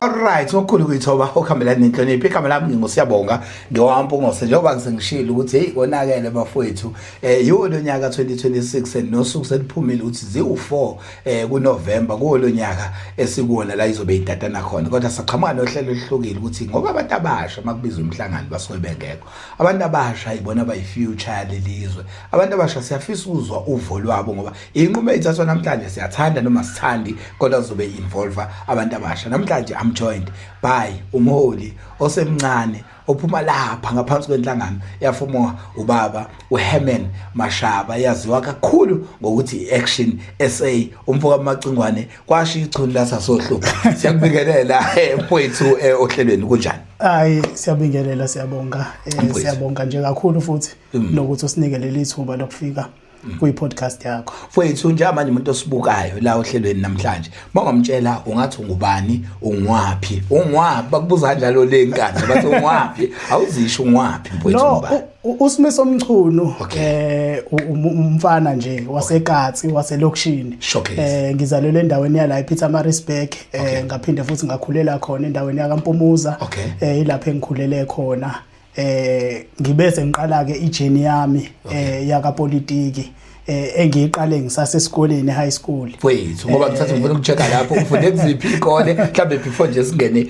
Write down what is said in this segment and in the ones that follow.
Alright, okukhulu kuyithoba okuhambelana nenhlonipho. Igama lami ngingusiyabonga ngiwampungose njengoba ngisengishilo ukuthi hey konakele bafowethu eh yiwo lonyaka 2026 and nosuku seliphumile ukuthi ziwu4 eh kuNovember kuwo lonyaka esikuwona la izobe idata nakhona kodwa saqhamuka nohlelo oluhlukile ukuthi ngoba abantu abasha makubiza umhlangano basuke bengekho. Abantu abasha ibona abayi future lelizwe. Abantu abasha siyafisa ukuzwa uvo lwabo ngoba inqumo ethathwa namhlanje siyathanda noma sithandi kodwa kuzobe involve abantu abasha namhlanje i'm joined by umholi osemncane ophuma lapha ngaphansi kwenhlangano yafumo ubaba uHerman Mashaba yaziwa kakhulu ngokuthi iAction SA umfoka Macingwane kwasho ichuni lasasohlu siyakubingelela mfowethu eh, eh, ohlelweni kunjani Hayi siyabingelela siyabonga eh, siyabonga nje kakhulu futhi mm. nokuthi usinike leli thuba lokufika mm. kuyi-podcast yakho mfowethu njengamanje umuntu osibukayo la ohlelweni namhlanje uma ungamtshela ungathi ungubani ungwaphi ungwaphi bakubuza kanjalo le nkani bathi ungwaphi awuzisho ungwaphi mfowethu no, usimiso omchunu eh umfana nje wasekatsi waselokishini eh ngizalelwe endaweni yala ePeter Marisburg eh ngaphinde futhi ngakhulela khona endaweni yakaMpumuza eh ilapha engikhulele khona eh ngibe sengiqala ke ijeni yami eh yakapolitiki eh engiyiqale ngisase esikoleni high school wethu ngoba ngithatha ngifuna ukucheka lapho ufunde kuziphi ikole mhlambe before nje singene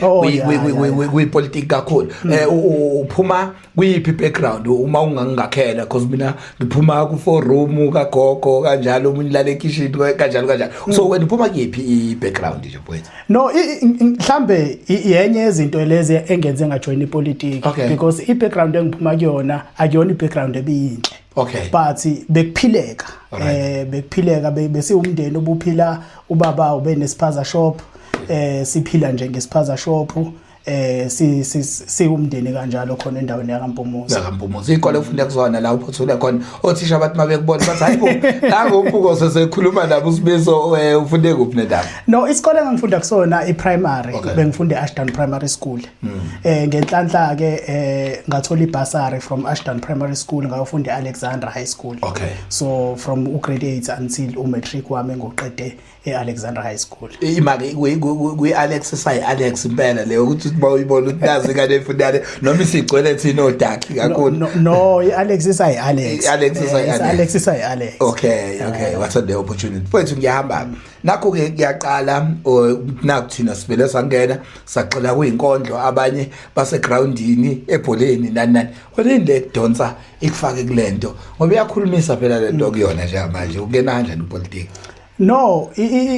kwi politics kakhulu eh uphuma kuyiphi background uma ungangakhela because mina ngiphuma ku four room ka gogo kanjalo umuntu lale kitchen kanjalo kanjalo so wena uphuma kuyiphi i background nje mfowethu No, mhlambe yenye yezinto lezi engenze ngajoin ipolitiki okay. because i-background engiphuma kuyona akuyona i-background ebiyinhle. Okay. But bekuphileka. Right. Eh bekuphileka besiwumndeni obuphila ubaba ube nesiphaza shop eh siphila nje ngesiphaza shop eh si si sikumndeni kanjalo khona endaweni yakaMpumuzi yakaMpumuzi ikole ufunda kuzona la uphothule khona othisha bathi mabekubona bathi hayibo nango umbuko sesekhuluma nabo usibizo eh, ufunde kuphi nedaba no isikole engangifunda kusona iprimary okay. bengifunda eAshdown Primary School mm. eh ngenhlanhla ke eh ngathola ibasari from Ashdown Primary School ngayofunda eAlexandra High School okay so from ugrade 8 until umatric wami ngoqede e-alexander high school imake kwi-alex sayi-alex impela leyo ukuthi uba uyibona ukuthi nazi ingane efunane noma isigcwele thina odakhi kakhulu no i-alex isayi-alex alex isayi-alex eh, okay okay what a day opportunity mfowethu ngiyahamba nakho-ke kuyaqala naku thina sivele sangena saxela kuyinkondlo abanye basegroundini ebholeni nani nani kodwa le donsa ikufake kule nto ngoba iyakhulumisa phela le nto kuyona njengamanje ukuyena kanjani upolitiki No,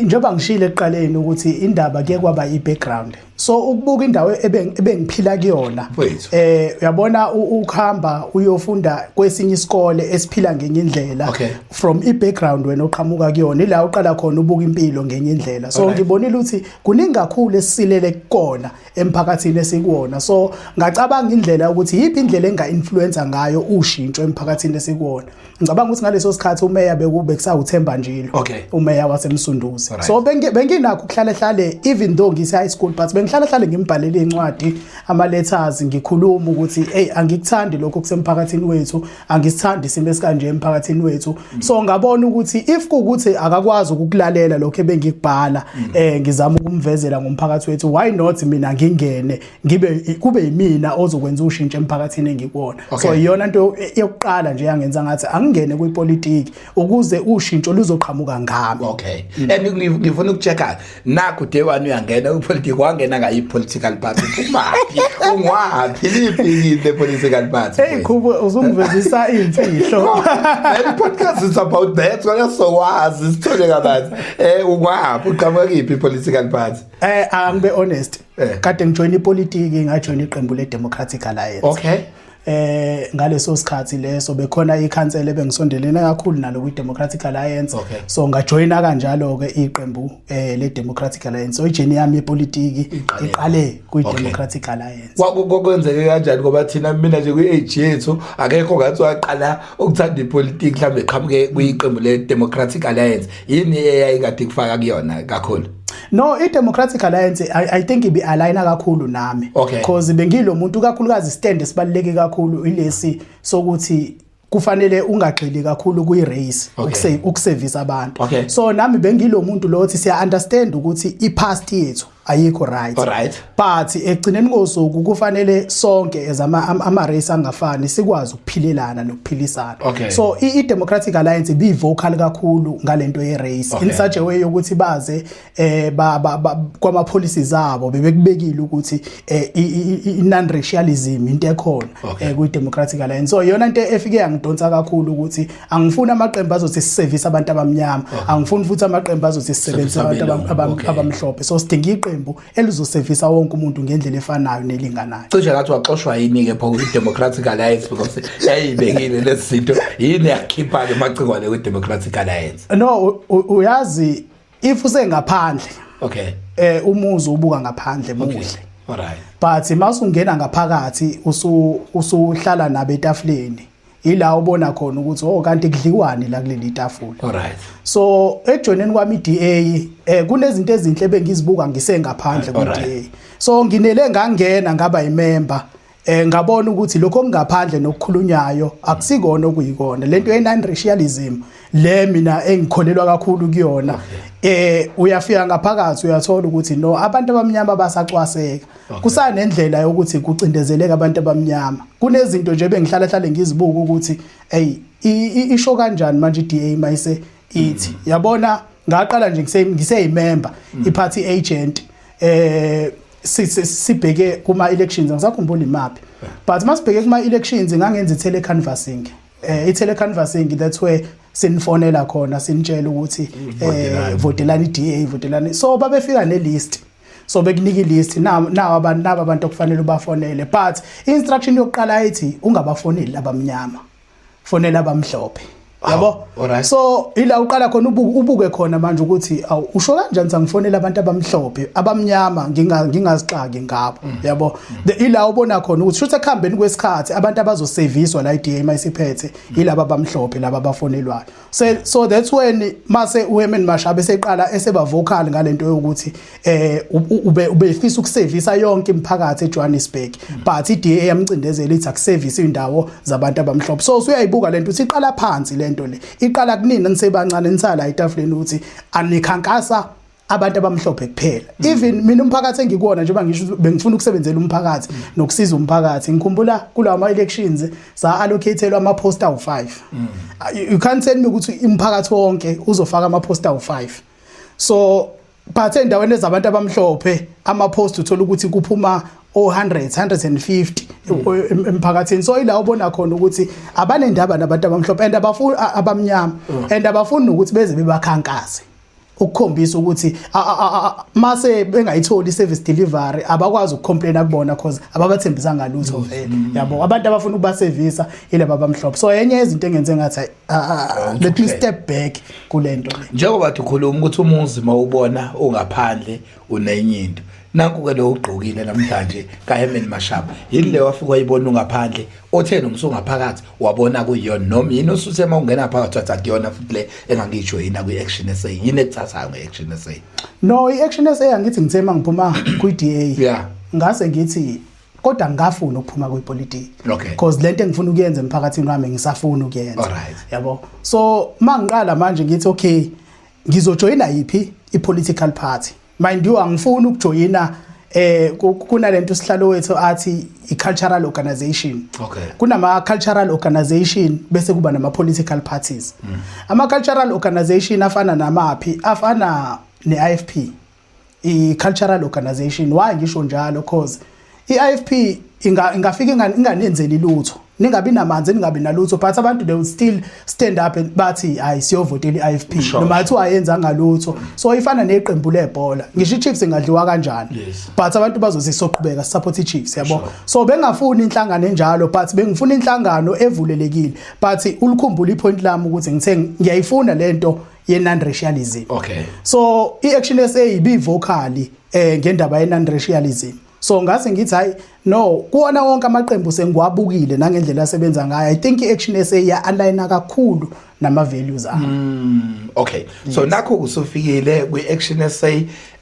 njengoba ngishile ekuqaleni ukuthi indaba ke kwaba i-background. So ukubuka indawo ebengiphila kuyona. Eh uyabona ukuhamba uyofunda kwesinye isikole esiphila ngenye indlela from i-background wena oqhamuka kuyona ila uqala khona ubuka impilo ngenye indlela. So ngibonile ukuthi kuningi kakhulu esisilele kukona emphakathini esikuwona. So ngacabanga indlela ukuthi yipi indlela enga-influencer ngayo ushintsho emphakathini esikuwona. ngicabanga ukuthi ngaleso sikhathi umeya bekube kusawuthemba njilo okay. umeya wasemsunduzi right. so benginakho ukuhlale hlale even though ngise high school but bengihlale hlale ngimbhalele incwadi ama letters ngikhuluma ukuthi hey angikuthandi lokho kusemphakathini wethu angisithandi isimo esikanje emphakathini wethu mm. so ngabona ukuthi if kukuthi akakwazi ukukulalela lokho ebengikubhala mm. eh ngizama ukumvezela ngomphakathi wethu why not mina ngingene ngibe kube yimina ozokwenza ushintsho emphakathini engikuwona okay. so iyona into yokuqala nje yangenza ngathi angingene kwipolitiki ukuze ushintsho luzoqhamuka ngami okay mm. and ngifuna ukuchecka nakho day one uyangena kwipolitiki wangena ngayi political party kumaphi ungwaphi liphi the political party hey khubo uzungivezisa imfihlo the podcast is about that kwala so wazi sithole kabanzi eh ungwaphi uqhamuka kiphi political party eh angibe honest eh. kade ngijoyina ipolitiki ngajoyina iqembu le-democratic alliance okay eh ngaleso sikhathi leso bekhona ikhansela ebengisondelene kakhulu nalo kwi Democratic Alliance okay. so ngajoyina kanjalo ke iqembu eh le Democratic Alliance so ijeni yami yepolitiki iqale kwi Democratic okay. Alliance kwakwenzeke kanjani ngoba thina mina nje kwi age yethu akekho ngathi waqala ukuthanda ipolitiki mhlawumbe qhamuke kwiqembu le Democratic Alliance yini eyayikade kufaka kuyona kakhulu No, i-Democratic Alliance I, I think ibi aligna kakhulu nami okay. because bengilo muntu kakhulukazi stand esibaluleke kakhulu ilesi sokuthi kufanele ungagxili kakhulu kuyi race okay. ukusevisa abantu okay. so nami bengilomuntu lo othi siya understand ukuthi i past yethu ayikho right, right. but ekugcineni kosuku kufanele sonke ezama ama race angafani sikwazi ukuphilelana nokuphilisana okay. so i democratic alliance be vocal kakhulu ngalento ye race okay. in such a way yokuthi baze eh ba, ba, ba kwama policies abo bebekubekile ukuthi eh, i non racialism into ekhona okay. eh, kwi democratic alliance so yona into efike yangidonsa kakhulu ukuthi angifuni amaqembu azothi siservice abantu abamnyama okay. angifuni futhi amaqembu azothi sisebenzise abantu abamhlophe okay. so sidinga iqembu elizosevisa wonke umuntu ngendlela efanayo nelinganayo cishe ngathi waxoshwa yini-ke pho kwi-democratic alliance because yayiyibekile lezi zinto yini yakhipha-ke macingwane kwi-democratic alliance no uyazi if usengaphandle okay eh umuzi ubuka ngaphandle muhle okay. right but masungena ngaphakathi usuhlala nabe etafuleni ila ubona khona ukuthi oh kanti kudliwani la kuleli tafula alright so ejoineni kwami iDA eh kunezinto ezinhle bengizibuka ngisengaphandle kweDA so nginele ngangena ngaba imember eh ngabona ukuthi lokho kungaphandle nokukhulunyayo akusikona okuyikona lento ye non racialism le mina engikholelwa kakhulu kuyona eh uyafika ngaphakathi uyathola ukuthi no abantu abamnyama basacwaseka kusanendlela yokuthi kucindezeleka abantu abamnyama kunezinto nje bengihlala hlale ngizibuka ukuthi hey isho kanjani manje iDA mayise ithi mm. yabona ngaqala nje ngise ngiseyimember mm. iparty agent eh sibheke kuma elections angisakhumbuli imaphi but masibheke kuma elections ngangenza tele canvassing eh i tele canvassing that's where sinifonela khona sinitshela ukuthi eh votelani DA votelani so babefika ne list so bekunika ilist nawo abantu nabo abantu okufanele ubafonele but instruction yokuqala ithi ungabafoneli labamnyama fonela abamhlophe yabo so ila uqala khona ubuke khona manje ukuthi awu usho kanjani sangifonela abantu abamhlophe abamnyama nginga ngingazixaki ngabo mm. yabo ila ubona khona ukuthi shuthe kuhambeni kwesikhathi abantu abazoseviswa la iDMA isiphethe mm. ilaba abamhlophe laba abafonelwayo so, so that's when mase uHerman Mashaba eseqala eseba vocal ngalento yokuthi eh ube ubefisa ukusevisa yonke imiphakathi eJohannesburg but iDA yamcindezela ithi akusevise indawo zabantu abamhlophe so usuyayibuka lento uthi iqala phansi lento le iqala kunini nisebancane nisala etafuleni uthi anikhankasa abantu abamhlophe kuphela mm. even mina umphakathi engikuwona njengoba ngisho bengifuna ukusebenzela umphakathi mm. nokusiza umphakathi ngikhumbula kulawa ama elections sa allocateelwa ama poster u5 mm. you can't tell me ukuthi umphakathi wonke uzofaka ama poster u5 so but endaweni ezabantu abamhlophe ama post uthola ukuthi kuphuma o100 150 mm. emphakathini so ila ubona khona ukuthi abanendaba nabantu abamhlophe and abafuni abamnyama mm. and abafuni ukuthi beze bebakhankase ukukhombisa ukuthi mase bengayitholi service delivery abakwazi ukucomplaina kubona cause ababathembisanga lutho vele yabo abantu abafuna ukubasevisa ilaba bamhlophe so enye yezinto engenze ngathi let me step back kulento njengoba ukhuluma ukuthi umuzi mawubona ungaphandle unenye into nanku-ke lo ugqokile namhlanje kahemen mashaba yini le wafika wayibona ungaphandle otheni umsungaphakathi wabona kuyiyona noma yini osuthe uma ungena phakathi wathi akuyona futhi le engangiyijoyina kwi-action sa yini ekuthathayo nge-action sa no i-action sa angithi ngithe uma ngiphuma kwi-d a yeah. ngase ngithi kodwa ngafuna ukuphuma kwipolitiki okay. cause lento engifuna ukuyenza emphakathini wami ngisafuna ukuyenza yabo so mangiqala manje ngithi okay ngizojoyina yiphi i-political party mind you angifuni ukujoyina eh kunalento sihlalo wethu athi i-cultural organization okay kunama-cultural organization bese kuba nama-political parties mm. ama-cultural organization afana namaphi afana ne-ifp i-cultural organization why ngisho njalo cause i-ifp inga, ingafika inga, inganenzeli lutho ningabi namanzi ningabi nalutho but abantu they will still stand up and bathi hayi siyovotela i-ifp noma athi wayenza ngalutho so ifana neqembu lebhola ngisho i-chiefs ingadliwa kanjani yes. but abantu bazothi soqhubeka support i-chiefs yabo sure. so bengafuni inhlangano enjalo but bengifuna inhlangano evulelekile but ulikhumbula ipoint lami ukuthi ngithe ngiyayifuna lento ye-non-racialism okay so i-action sa ibivocali eh ngendaba ye-non-racialism so ngase ngithi hayi no kuwona wonke amaqembu sengiwabukile nangendlela asebenza ngayo i think i-action sa ya-aligna kakhulu nama-values ayo mm, okay yes. so nakho kusufikile kwi-action sa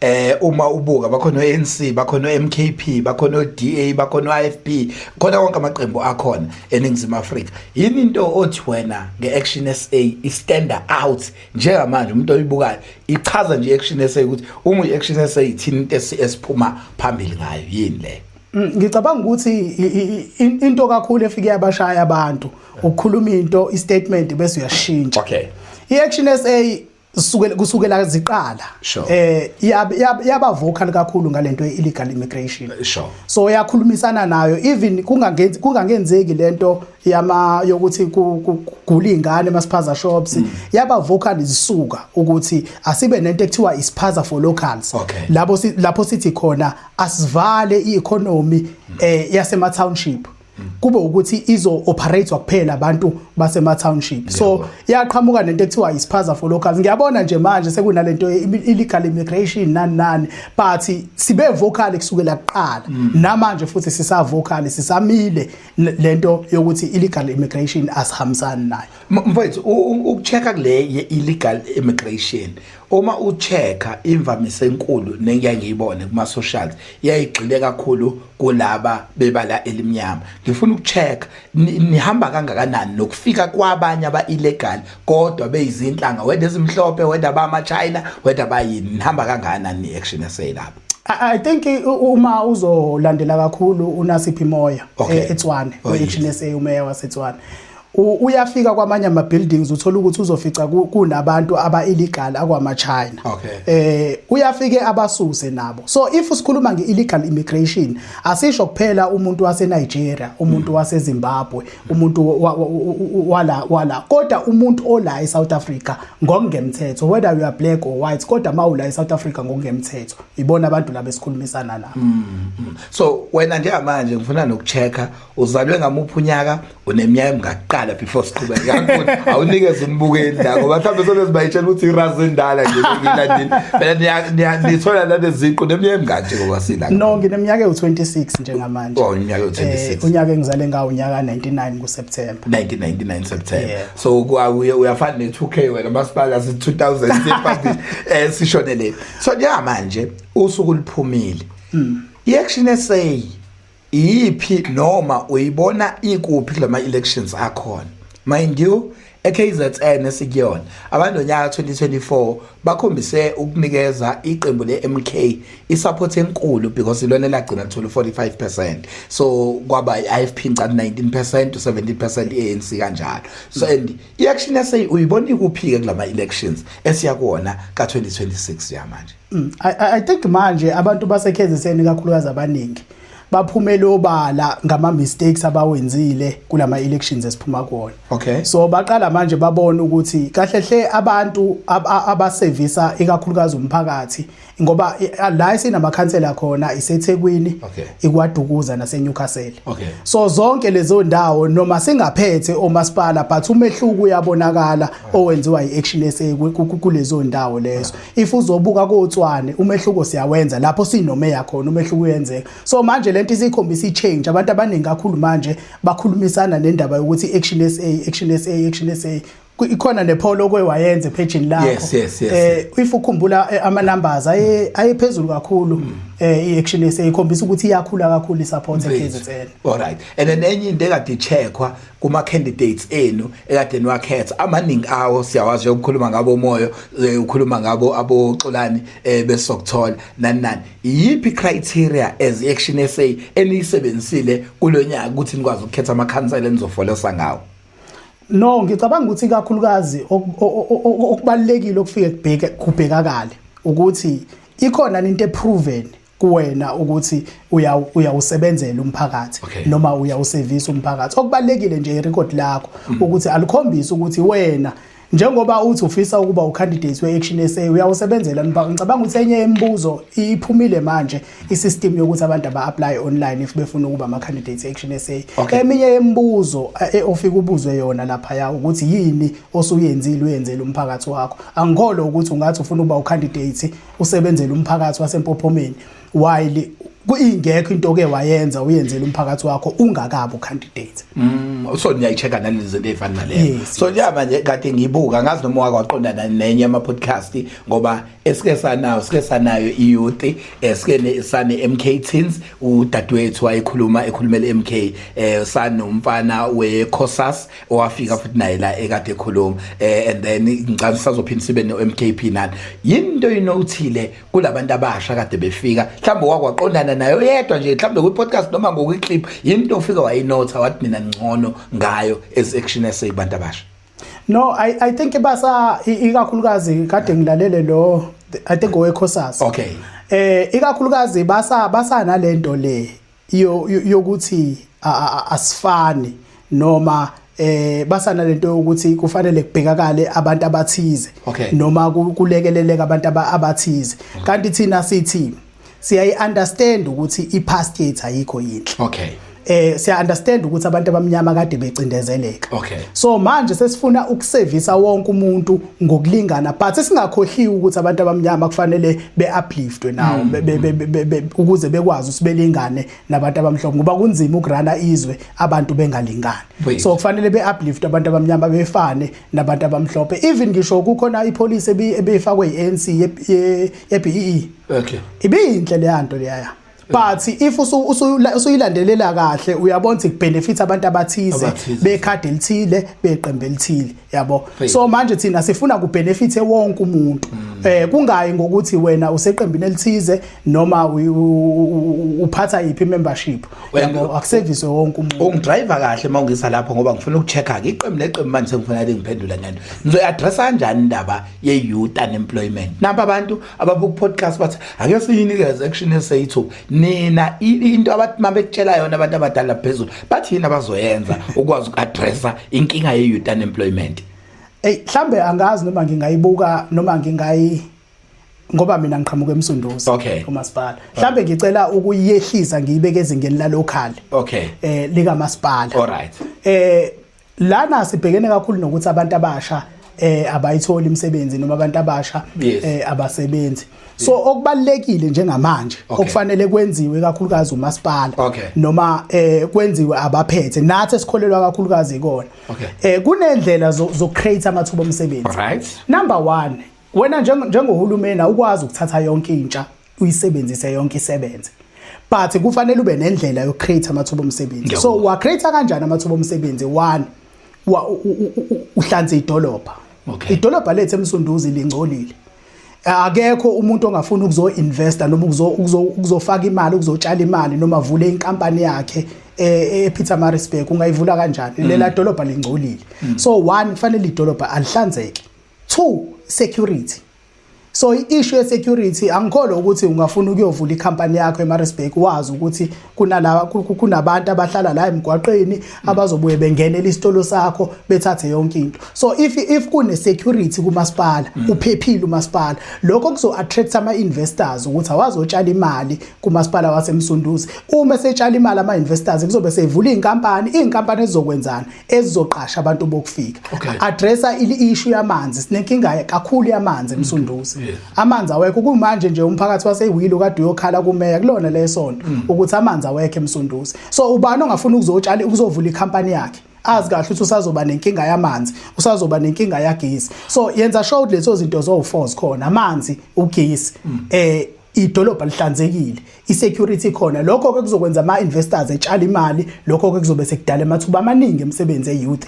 eh uma ubuka bakhona ANC bakhona MKP bakhona oDA bakhona IFP khona konke amaqembu akhona eningizimu Afrika yini into othi wena ngeAction SA istand out njengamanje umuntu oyibukayo ichaza nje iAction SA ukuthi uma iAction SA ithini into esiphuma phambili ngayo yini le mm, ngicabanga ukuthi into kakhulu efike yabashaya abantu ukukhuluma into istatement bese uyashintsha okay iAction SA kusukela kusukela ziqala Sure. eh yab- yab- yaba vocal kakhulu ngalento illegal immigration Eh, sure. so yakhulumisana nayo even kungangenzi kungangenzeki lento yama yokuthi ku- ku- kugula ingane masiphaza shops Mm. yaba vocal zisuka ukuthi asibe nento ekuthiwa isiphaza for locals Okay. labo si- lapho sithi khona asivale i-economy eh yasema township kube ukuthi izo operate kuphela abantu basema township so yaqhamuka nento ekuthiwa isiphaza for locals ngiyabona nje manje sekunalento illegal immigration nani nani but sibe vocal kusukela kuqala mm. namanje futhi sisa vocal sisamile lento yokuthi illegal immigration asihambisani nayo mfowethu ukuchecka kule ye illegal immigration uma uchecka imvamisa enkulu nengiyangiyibone kuma socials yayigxile kakhulu kulaba bebala elimnyama ngifuna ukucheck nihamba kangakanani nokufika kwabanye aba illegal kodwa beyizinhlanga whether ezimhlophe whether bama China whether bayini nihamba kangakanani ni action eseyilapho I think uma uzolandela kakhulu uNasiphi Moya e-Tswane, e-Action SA uMeya waseTswane. uyafika kwamanye ama buildings uthola ukuthi uzofica kunabantu aba illegal akwama China okay. eh uyafike abasuse nabo so if sikhuluma nge illegal immigration asisho kuphela umuntu wase Nigeria umuntu mm. wase Zimbabwe umuntu wala wala kodwa umuntu ola e South Africa ngokungemthetho whether you are black or white kodwa mawula e South Africa ngokungemthetho ibona abantu laba esikhulumisana nabo mm, mm. so wena njengamanje ngifuna nokuchecka uzalwe ngamuphi unyaka uneminyaka emingaqala before siqhubeke yakuthi awunikeze umbukeli la ngoba mhlawumbe sonezibayitshela ukuthi irazi endala nje ngilandile phela nithola naneziqu neminyaka eminganje ngoba sila no ngineminyaka ewu-26 njengamanje oh iminyaka ewu-26 eh, unyaka engizale ngawo unyaka 99 nguseptemba 1999 septemba so uyafana ne-2 k wena masipala si-2000 eh, sishonele so njengamanje usuku liphumile hmm. i-action eseyi iyiphi noma uyibona ikuphi kula ma-elections akhona mind you eKZN esikuyona abantu onyaka 2024 bakhombise ukunikeza iqembu leMK isupport enkulu because ilona elagcina lithola 45% so kwaba iFP ngicane 19% to 17% ANC kanjalo so and iAction SA uyibona ikuphi ke kulama elections esiya kuona ka 2026 yamanje Mm, I, I think manje abantu basekheziseni kakhulukazi abaningi baphumele obala ngama mistakes abawenzile kulama elections esiphuma kuona okay so baqala manje babona ukuthi kahle hle abantu abasevisa ikakhulukazi umphakathi ngoba la sinama councilor khona iseThekwini okay. ikwadukuza nase Newcastle okay so zonke lezo ndawo noma singaphethe omasipala but umehluko uyabonakala owenziwa iAction SA kulezo ndawo lezo if uzobuka kotswane umehluko siyawenza lapho sinomeya khona umehluko uyenzeka so manje lento isikhombisa ichange abantu abaningi kakhulu manje bakhulumisana nendaba yokuthi action SA action SA action SA ikhona nepholo okwe wayenze page lakho yes, yes, yes, eh if ukhumbula eh, ama numbers aye ayephezulu kakhulu mm. eh i action SA ikhombisa ukuthi iyakhula kakhulu i support eKZN all right and then enye into ekade checkwa kuma candidates enu ekade niwakhetha amaningi awo siyawazi ukukhuluma ngabo moyo eh, ukhuluma ngabo aboxolani eh, besokuthola nani nani iyiphi criteria as action SA eniyisebenzisile kulonyaka ukuthi nikwazi ukukhetha ama council enizofolesa ngawo no ngicabanga ukuthi kakhulukazi okubalekile okufike kubheke kubhekakale ukuthi ikhona into eproven kuwena ukuthi uyawusebenzela umphakathi okay. noma uyawusevisa umphakathi okubalekile nje irecord lakho mm. ukuthi alikhombisi ukuthi wena njengoba uthi ufisa ukuba ucandidate we-action sa uyawusebenzela nibhaka ngicabanga ukuthi enye yemibuzo iphumile manje isystem yokuthi abantu aba-apply online if befuna ukuba ama-candidate e-action sa okay. eminye yemibuzo eh, eh, ofike ubuzwe yona laphaya ukuthi yini osuyenzile uyenzela umphakathi wakho angikholwa ukuthi ungathi ufuna ukuba ucandidate usebenzela umphakathi wasempophomeni while kuyingekho into ke wayenza uyenzela umphakathi wakho ungakabi ucandidate mm so niyayicheka nalezi zinto ezifana naleyo so liyaba nje kade ngibuka ngazi noma wake waqondana nenye ama podcast ngoba esike sanayo sike sanayo iyouth esike sane MK teens udadewethu wayekhuluma ekhulumela MK eh sanomfana we Cosas owafika futhi naye la ekade ekhuluma eh and then ngicela sisazophinde sibe no MKP nani yinto inothile kulabantu abasha kade befika mhlawumbe wakwaqondana nayo yedwa nje mhlawumbe kwi podcast noma ngokwi clip yinto ofika wayinotha wathi mina ngcono ngayo as action eseyibantu abasha no i i think basa ikakhulukazi kade ngilalele lo i think owekhosasa okay eh ikakhulukazi basa basa nalento le yokuthi asifani noma eh basana lento yokuthi kufanele kubhekakale abantu abathize noma kulekeleleka abantu abathize mm. kanti thina sithi siyayi understand ukuthi i past yethu ayikho yinhle okay eh siya understand ukuthi abantu abamnyama kade becindezeleka okay so manje sesifuna ukusevisa wonke umuntu ngokulingana but singakhohliwe ukuthi abantu abamnyama kufanele be-upliftwe nawo hmm. ukuze bekwazi ukuthi belingane nabantu abamhlophe ngoba kunzima ukurana izwe abantu bengalingani so kufanele be-upliftwe abantu abamnyama befane nabantu abamhlophe even ngisho kukhona ipolisi ebeyifakwe yi-anc ye-bee okay. ibiyinhle leya nto leyaya but if usuyilandelela kahle uyabona ukuthi kubenefit abantu abathize bekhadi elithile beqembe elithile yabo so manje thina sifuna kubenefit wonke umuntu mm. eh kungayi ngokuthi wena useqembini elithize noma uphatha iphi membership yabo akuservice wonke umuntu ungidriver kahle mawungisa lapho ngoba ngifuna ukuchecka ke iqembu neqembu manje sengifuna lingiphendula ngento ngizoyaddressa kanjani indaba ye youth unemployment namba abantu ababuka podcast bathi ake siyinikeze action esayithuba nina into abathi mabekutshela yona abantu abadala phezulu bathi yini abazoyenza ukwazi uku-addressa inkinga ye-youth unemployment eyi mhlawumbe angazi noma ngingayibuka noma ngingayi ngoba mina ngiqhamuka emsunduzi okay. umasipala mhlawumbe ngicela ukuyehlisa ngiyibeke ezingeni lalokhali okay. eh likamasipala alright eh Lana sibhekene kakhulu nokuthi abantu abasha eh abayitholi imisebenzi noma abantu abasha eh abasebenzi so okubalekile njengamanje okufanele kwenziwe kakhulukazi umasipala noma eh kwenziwe abaphethe nathi esikholelwa kakhulukazi ikona eh kunendlela zo create amathuba omsebenzi right number 1 wena njengohulumeni awukwazi ukuthatha yonke intsha uyisebenzise yonke isebenze but kufanele ube nendlela yo create amathuba omsebenzi so wa create kanjani amathuba omsebenzi one uhlanze idolobha okay idolobha lethe emsunduzi lingcolile akekho umuntu ongafuna ukuzo investa noma ukuzo ukuzofaka imali ukuzotshala imali noma avule inkampani yakhe eh, ePeter eh, Marisburg ungayivula kanjani mm. lela dolobha lingcolile mm. so one kufanele idolobha alihlanzeke two security so i-issue ye-security angikholwa ukuthi ungafuna ukuyovula ikhampani yakho eMaritzburg wazi ukuthi kunala kunabantu abahlala la emgwaqeni abazobuye bengenele isitolo sakho bethathe yonke into so if if kune security kumasipala mm. uphephile umasipala lokho kuzo attract ama investors ukuthi awazotshala imali kumasipala wasemsunduzi uma setshala imali ama investors kuzobe sevula izinkampani izinkampani ezizokwenzana ezizoqasha abantu bokufika okay. addressa i-issue yamanzi sinenkinga kakhulu yamanzi emsunduzi mm. yeah. amanzi awekho kumanje nje umphakathi wasewilo kade uyokhala kumeya kulona lesonto mm. ukuthi amanzi awekho emsunduzi so ubani ongafuna ukuzotshala ukuzovula ikhampani yakhe azi kahle ukuthi usazoba nenkinga yamanzi usazoba nenkinga yagesi so yenza sure ukuthi lezo zinto zowu-four zikhona amanzi ugesi um mm. eh, idolobha lihlanzekile i-security khona lokho ke kuzokwenza ama investors etshala imali lokho ke kuzobe sekudala amathuba amaningi emsebenzi eyouth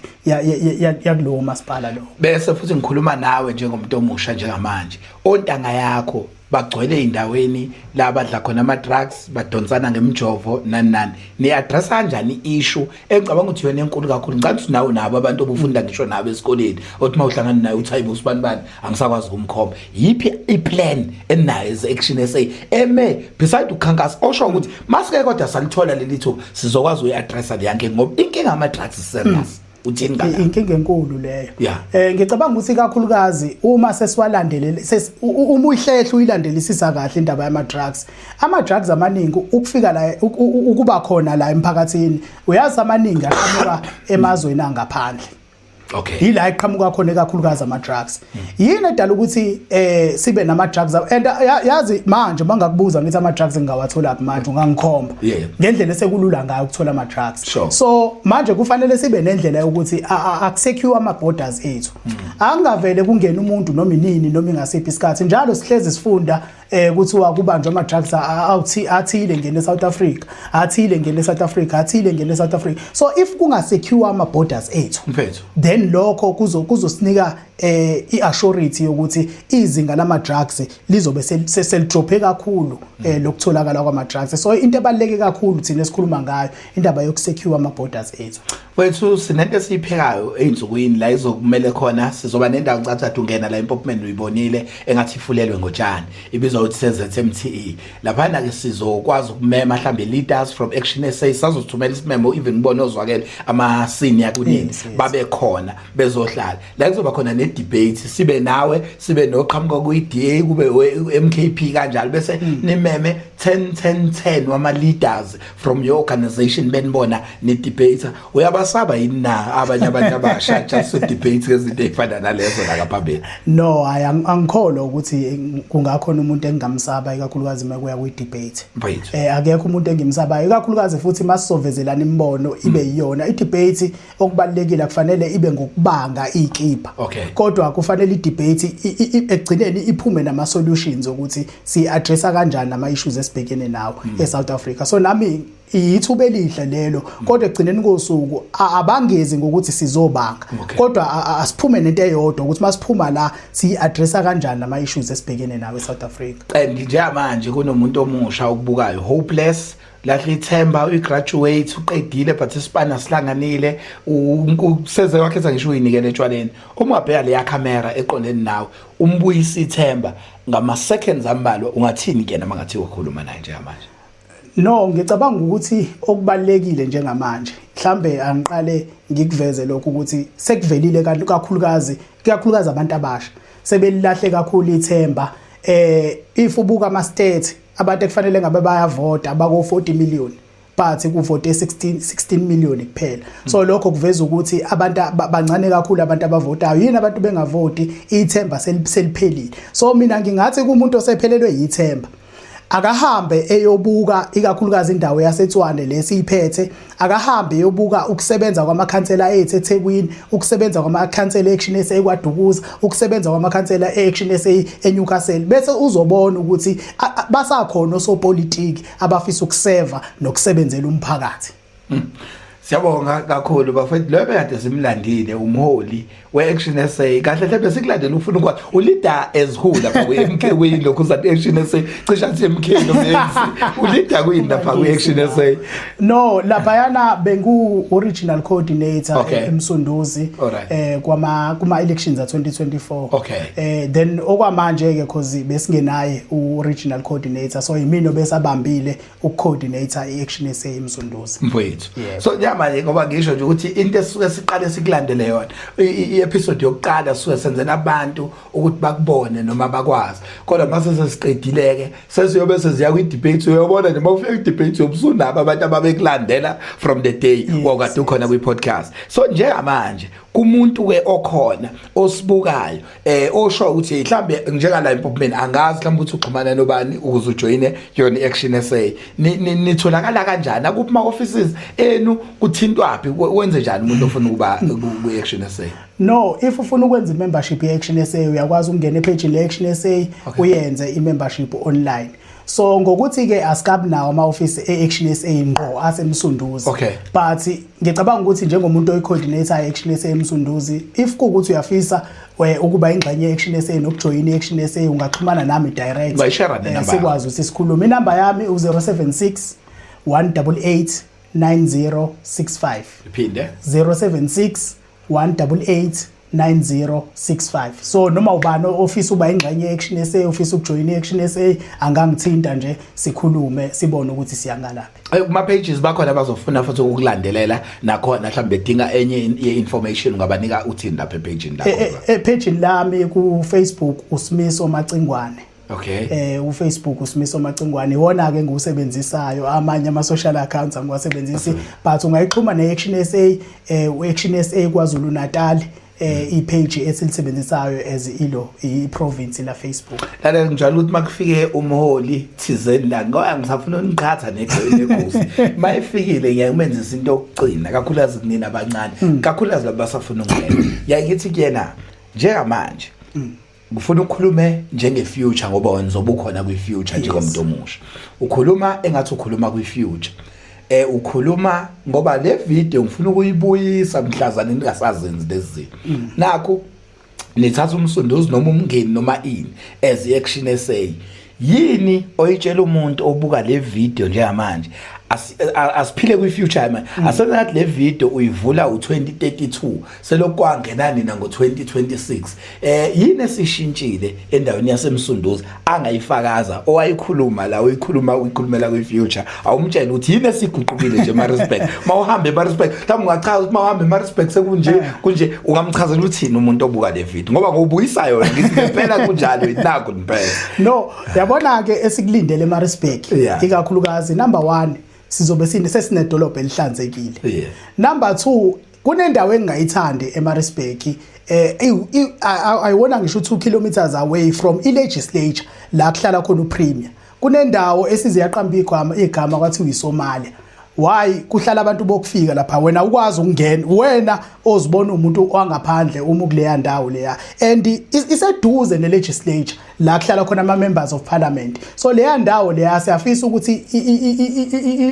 yakulowo masipala lo bese futhi ngikhuluma nawe njengomuntu omusha njengamanje ontanga yakho bagcwele endaweni la badla khona ama drugs badonsana ngemjovo nani nani ni address kanjani issue engicabanga ukuthi yona enkulu kakhulu ngicabanga ukuthi nawe nabo abantu obufunda ngisho nabo esikoleni othi uma uhlangana naye uthi hayibo usibani bani angisakwazi ukumkhomba yiphi i-plan enayo ezection sa eme beside ukukhankasa osho ukuthi masike kodwa salithola leli thuba sizokwazi uyi-addressa le yankinga ngoba inkinga ama-drugs serious mm. uthini ngala inkinga enkulu leyo eh ngicabanga ukuthi kakhulukazi uma sesiwalandelele uma uyihlehla uyilandelisisa kahle indaba yama drugs ama drugs amaningi ukufika la ukuba khona la emphakathini uyazi amaningi aqhamuka emazweni angaphandle okay yila iqhamuka khona ekakhulukazi ama drugs yini edala ukuthi eh sibe nama drugs and yazi manje mangakubuza ngithi ama drugs ngingawathola phi manje ungangikhomba ngendlela esekulula ngayo ukuthola ama drugs so manje kufanele sibe nendlela yokuthi akusecure ama borders ethu angavele kungena umuntu noma inini noma ingasiphi isikhathi njalo sihlezi sifunda eh kuthiwa kubanjwa ama drugs awuthi athile ngene eSouth Africa athile ngene eSouth Africa athile ngene eSouth Africa so if kunga secure ama borders ethu mfethu then lokho kuzo kuzosinika eh iassurity yokuthi izinga lama drugs lizobe selidrophe kakhulu eh mm. lokutholakala kwama drugs so into ebaleke kakhulu thina esikhuluma ngayo indaba yokusecure ama borders ethu Wethu sinento esiyiphekayo ezinsukwini la izokumele khona sizoba nendawo ncathathu ungena la impopman uyibonile engathi ifulelwe ngotshani ibizwa ukuthi seZMTE laphana ke sizokwazi ukumema mhlambe leaders from Action SA sazothumela isimemo even ngibone ozwakele ama senior kunini babe khona bezohlala la kuzoba khona ne debate sibe nawe sibe noqhamuka kuyi DA kube MKP kanjalo bese hmm. nimeme 10 10 10 wama leaders from your organization benibona ni debate uyabasaba yini na abanye abantu abasha just to debate ngezinto ezifana nalezo la kaphambili no hayi angikholwa ukuthi kungakhona umuntu engingamsaba ikakhulukazi uma kuya kwi debate eh akekho umuntu engimsabayo ikakhulukazi futhi masisovezelana imibono ibe mm. iyona i debate okubalekile akufanele ibe ngokubanga ikipha okay. kodwa kufanele idebate ekugcineni iphume nama solutions ukuthi si address kanjani ama issues esibhekene nawo mm. e South Africa so nami yithuba elihle lelo mm. kodwa ekugcineni kosuku abangezi ngokuthi sizobanga okay. kodwa asiphume nento eyodwa ukuthi masiphuma la si address kanjani nama issues esibhekene nawo e South Africa eh, nje manje kunomuntu omusha okubukayo hopeless lahle ithemba uyigraduate uqedile but isibani asihlanganile useze wakhe ethi ngisho uyinikele etshwaleni uma ubheka leya camera eqondeni nawe umbuyisa ithemba ngama seconds ambalwa ungathini kuyena mangathi ukhuluma naye njengamanje no ngicabanga ukuthi okubalekile njengamanje mhlambe angiqale ngikuveze lokho ukuthi sekuvelile kakhulukazi kakhulukazi abantu abasha sebelilahle kakhulu ithemba eh if ubuka ama stats abantu ekufanele ngabe bayavota bako 40 million but kuvote 16 16 million kuphela so lokho kuveza ukuthi abantu bancane kakhulu abantu abavotayo yini abantu bengavoti ithemba seliphelile so mina ngingathi kumuntu osephelelwe yithemba akahambe eyobuka ikakhulukazi indawo yaseTswane lesiyiphethe akahambe eyobuka ukusebenza kwamakhansela ethu eThekwini ukusebenza kwamakhansela action ese ekwaDukuza ukusebenza kwamakhansela action ese eNewcastle bese uzobona ukuthi basakhona osopolitiki abafisa ukuseva nokusebenzela umphakathi hmm. Siyabonga kakhulu bafethu lo bekade simlandile umholi we-action essay kahle hle besikulandela ufuna ukwazi ulida as who lapha kwi-mk kuyini lokhu uzathi action essay cishe athi mk nomx ulida kuyini lapha kwi-action essay no laphayana bengu-original coordinator Okay. eh, emsunduzi Alright. eh, kwama- kuma-elections a-2024 Okay. eh, then okwamanje-ke cause besingenaye u-original coordinator so yimina obesabambile ukucoordinator i-action sa emsunduza mfowethu so njamanje ngoba ngisho nje ukuthi into esuke siqale sikulandele yona i-episode yokuqala suke senzela abantu ukuthi bakubone noma bakwazi kodwa mase sesiqedileke sesiyobe seziya kwi-debate uyobona nje mawufika kwi-debate yobusunaba abantu ababekulandela from the day wakade ukhona kwi-podcast so njengamanje kumuntu-ke okhona osibukayo eh osho ukuthi mhlambe njeka la impopman angazi mhlambe ukuthi uxhumana nobani ukuze ujoine yona action SA nitholakala kanjani akuphi ma offices enu kuthintwaphi wenze njani umuntu ofuna ukuba ku action SA no if ufuna ukwenza membership ye action SA uyakwazi ukungena epage le action SA uyenze i membership online so ngokuthi ke asikabi nawo ama office e Action SA ngqo asemsunduzi okay. but ngicabanga ukuthi njengomuntu oyi coordinator e Action SA emsunduzi if kukuthi uyafisa eh, ukuba ingxenye ye Action SA nokujoyina i Action SA ungaxhumana nami direct bayishare ne eh, number sikwazi ukuthi sikhulume inamba yami u 076 188 9065 iphinde 076 188 9065 so noma ubani ofisa uba ingxenye action SA ofisa ukujoyina action SA angangithinta nje sikhulume sibone ukuthi siyangalaphi eh, kuma pages bakhona abazofuna futhi ukukulandelela nakhona mhlawumbe bedinga enye ye information ngabanika uthini lapha e page lakho e, e, e page lami ku Facebook usimiso macingwane Okay. Eh uFacebook uSimiso Macingwane iwona ke ngiwusebenzisayo amanye ama social accounts angiwasebenzisi but ungayixhuma ne Action SA eh u Action SA kwaZulu Natal eh mm. ipage esilisebenzisayo as ilo iprovince la Facebook lale njalo ukuthi makufike umholi thizeni la ngoya ngisafuna uniqhatha negosi mayifikile ngiyakmenzisa into yokugcina kakhulukazi kunina abancane mm. kakhulukazi labasafuna ukungena ngiyayithi kuyena njengamanje mm. ngifuna ukukhulume njenge future ngoba wena uzobukhona kwi future njengomuntu omusha ukhuluma engathi ukhuluma kwi future eh ukhuluma ngoba le video ngifuna ukuyibuyisa mhlazana ningasazenzi lezi mm. nakho nithatha umsunduzi noma umngeni noma ini as action essay yini oyitshela umuntu obuka le video njengamanje asiphile kwi-future manje mm. asengathi le video uyivula u-2032 selokwangena nina ngo-2026 eh yini esishintshile endaweni yasemsunduzi angayifakaza owayikhuluma la uyikhuluma uyikhulumela kwi-future awumtshele ukuthi yini esiguqukile nje Maritzburg mawuhambe Maritzburg mhlawumbe ungachaza ukuthi mawuhambe Maritzburg sekunje eh. kunje ungamchazela uthini umuntu obuka le video ngoba ngobuyisa yona ngithi impela kunjalo inako impela no yabona ke esikulindele Maritzburg ikakhulukazi number 1 sizobe sine sesinedolobha elihlanzekile number 2 kunendawo engingayithandi eMaritzburg eh ayiwona ngisho 2 kilometers away from i legislature la kuhlala khona upremier kunendawo esize yaqamba igama igama kwathiwa iSomalia why kuhlala abantu bokufika lapha wena ukwazi ukungena wena ozibona umuntu wangaphandle uma kuleya ndawo leya and iseduze ne legislature la kuhlala khona ama members of parliament so leya ndawo leya siyafisa ukuthi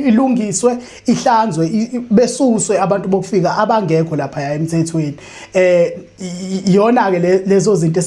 ilungiswe ihlanzwe besuswe abantu bokufika abangekho lapha emthethweni eh yona ke lezo zinto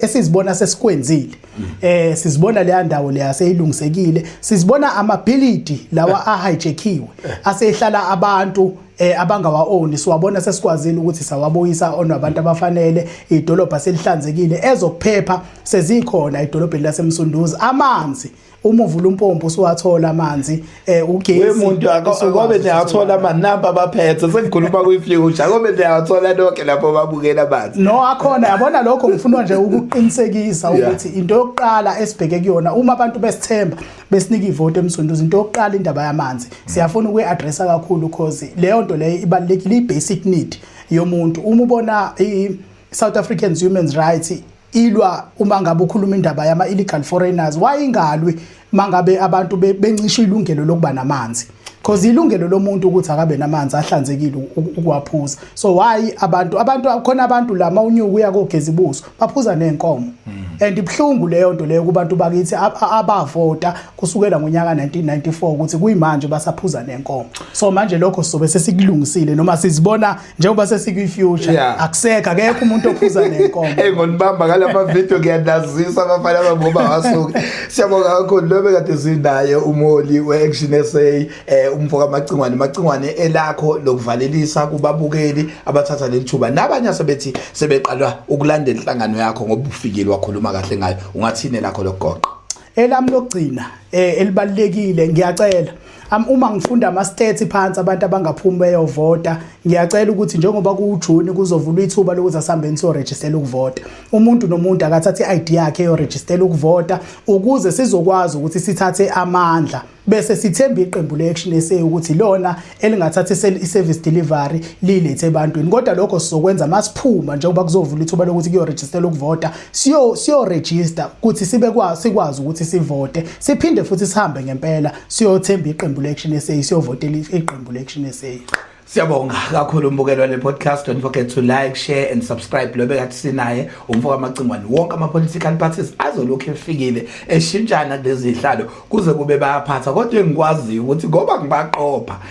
esizibona sesikwenzile eh sizibona leya ndawo leya seyilungisekile sizibona amabhilidi lawa ahijackiwe asehlala abantu eh abangawa own siwabona sesikwazile ukuthi sawabuyisa on abantu abafanele idolobha selihlanzekile ezokuphepha sezikhona idolobheni lasemsunduzi amanzi uma uvula umpompo usuwathola amanzi eh ugesi wemuntu akobe niyathola amanamba abaphethe sengikhuluma kwi-future akobe niyathola nonke lapho babukela amanzi no akhona yabona lokho ngifuna nje ukuqinisekisa ukuthi into yokuqala esibheke kuyona uma abantu besithemba besinika ivoti emsunduzi into yokuqala indaba yamanzi siyafuna ukuyi-adressa kakhulu cause leyo nto leyo ibalulekile i-basic need yomuntu uma ubona i-south africans human rights ilwa uma ngabe ukhuluma indaba yama illegal foreigners wayingalwi mangabe abantu bencisha ilungelo lokuba namanzi because ilungelo lomuntu ukuthi akabe namanzi ahlanzekile ukuwaphuza so why abantu abantu khona abantu lama unyuku uya kogeza ibuso baphuza nenkomo hmm. and ibhlungu leyo nto leyo kubantu bakithi abavota kusukela ngonyaka 1994 ukuthi kuyimanje basaphuza nenkomo so manje lokho sobe sesikulungisile noma sizibona njengoba sesikwi-future yeah. akuseka kekho umuntu ophuza nenkomo hey ngonibamba ngalama video ngiyanazisa abafana abangoba wasuke siyabonga kakhulu lobe kade sinaye umholi we-action sa eh, umfoka amacingwane amacingwane elakho lokuvalelisa kubabukeli abathatha leli thuba nabanye asebethi sebeqalwa ukulandela inhlangano yakho ngoba ufikile wakhuluma kahle ngayo ungathini lakho lokugoqa elami lokugcina eh, elibalekile ngiyacela Am uma ngifunda ama stats phansi abantu abangaphumi beyovota ngiyacela ukuthi njengoba kuwujuni kuzovulwa ithuba lokuthi asihambeni so register ukuvota umuntu nomuntu akathathe i-ID yakhe yo register ukuvota ukuze sizokwazi ukuthi sithathe amandla bese sithemba iqembu le-action sa ukuthi lona elingathatha i-service delivery liyilethe ebantwini kodwa lokho sizokwenza uma siphuma njengoba kuzovula ithuba lokuthi kuyorejistela ukuvota siyorejista ukuthi sibe sikwazi ukuthi sivote siphinde futhi sihambe ngempela siyothemba iqembu le-action sa siyovotela iqembu le-action sa Siyabonga kakhulu umbukelwa le podcast don't forget to like share and subscribe lo bekathi sinaye umfoka amacingwane wonke ama political parties azolokhu efikile eshintshana kulezihlalo kuze kube bayaphatha kodwa engikwaziyo ukuthi ngoba ngibaqopha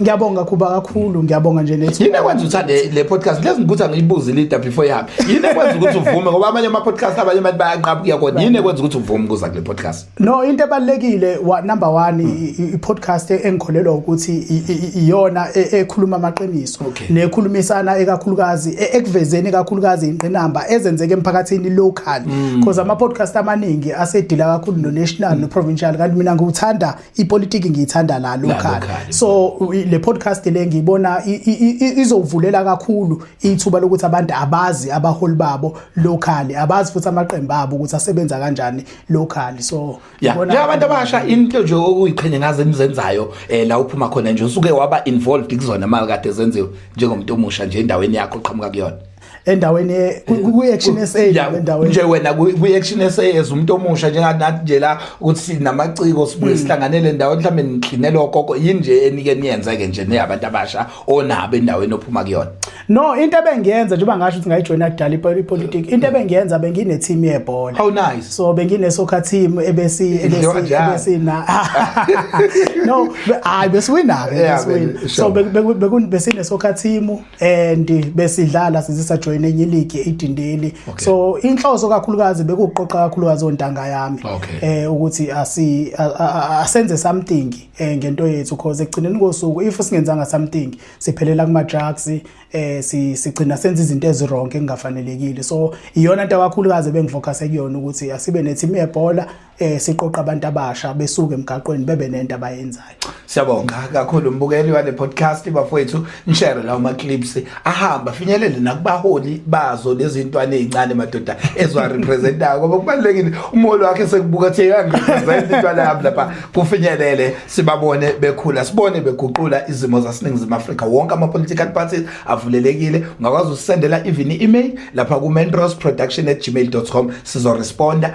ngiyabonga kuba kakhulu ngiyabonga nje nethu yini ekwenza uthande le podcast lezi ngikuthi angiyibuze lida before yami yini ekwenza ukuthi uvume ngoba amanye ama podcast abanye abantu bayanqaba kuya kodwa yini ekwenza ukuthi uvume ukuza kule podcast no into ebalekile wa number 1 i podcast engikholelwa ukuthi iyona e, ekhuluma amaqiniso nekhulumisana ekakhulukazi e, ekuvezeni kakhulukazi inqinamba ezenzeke emphakathini local mm. because ama podcast amaningi asedila kakhulu no national no provincial kanti mina ngiwuthanda ipolitiki ngiyithanda la local so le podcast le ngiyibona izovulela kakhulu ithuba lokuthi abantu abazi abaholi babo locally abazi futhi amaqembu abo ukuthi asebenza kanjani locally so ngibona abantu abasha into nje okuyiqhenye ngaze nizenzayo eh, la uphuma khona nje usuke waba involved kuzona mali kade zenziwe njengomuntu omusha nje endaweni yakho qhamuka kuyona endaweni ye- ku- ku- kwi-action sa Ya, le ndaweni nje wena ku- kwi-action sa as umuntu omusha njenganathi nje la ukuthi sinamaciko Hmm. sibuye sihlanganele endaweni mhlawumbe nigxinele okoko yini nje enike niyenze-ke nje neyabantu abasha onabo endaweni ophuma kuyona no into ebengiyenza njengoba ngasho ukuthi ngayijoyina kudala ipo- ipolitiki into ebengiyenza benginethimu yebhola how nice so benginesoccer team ebesi ebesi Idliwa njani? ebesi na no be- hayi besiwina ke Yeah, besiwina be- so sure. be- be- beku- besine soccer team and besidlala sizisa join enye league idindeli okay. so inhloso kakhulukazi bekuqoqa kakhulukazi ontanga yami okay. eh ukuthi asi asenze something eh ngento yethu because ekugcineni kosuku if singenzanga something siphelela kuma drugs eh si sigcina senza izinto ezironke engafanelekile so iyona into kakhulukazi bengifocus ekuyona ukuthi asibe ne team yebhola eh siqoqa abantu abasha besuke emgaqweni bebe nento abayenzayo siyabonga kakhulu mbukeli wale podcast bafowethu nishare lawo ma clips ahamba finyelele nakubaholi bazo lezintwana ezincane madoda ezwa representayo ngoba kubalekile umholi wakhe sekubuka thi yangirepresent intwana yami lapha kufinyelele sibabone bekhula sibone beguqula izimo zaseningizimu Afrika wonke ama political parties avulelekile ungakwazi usendela even email lapha ku mentrosproduction@gmail.com sizoresponda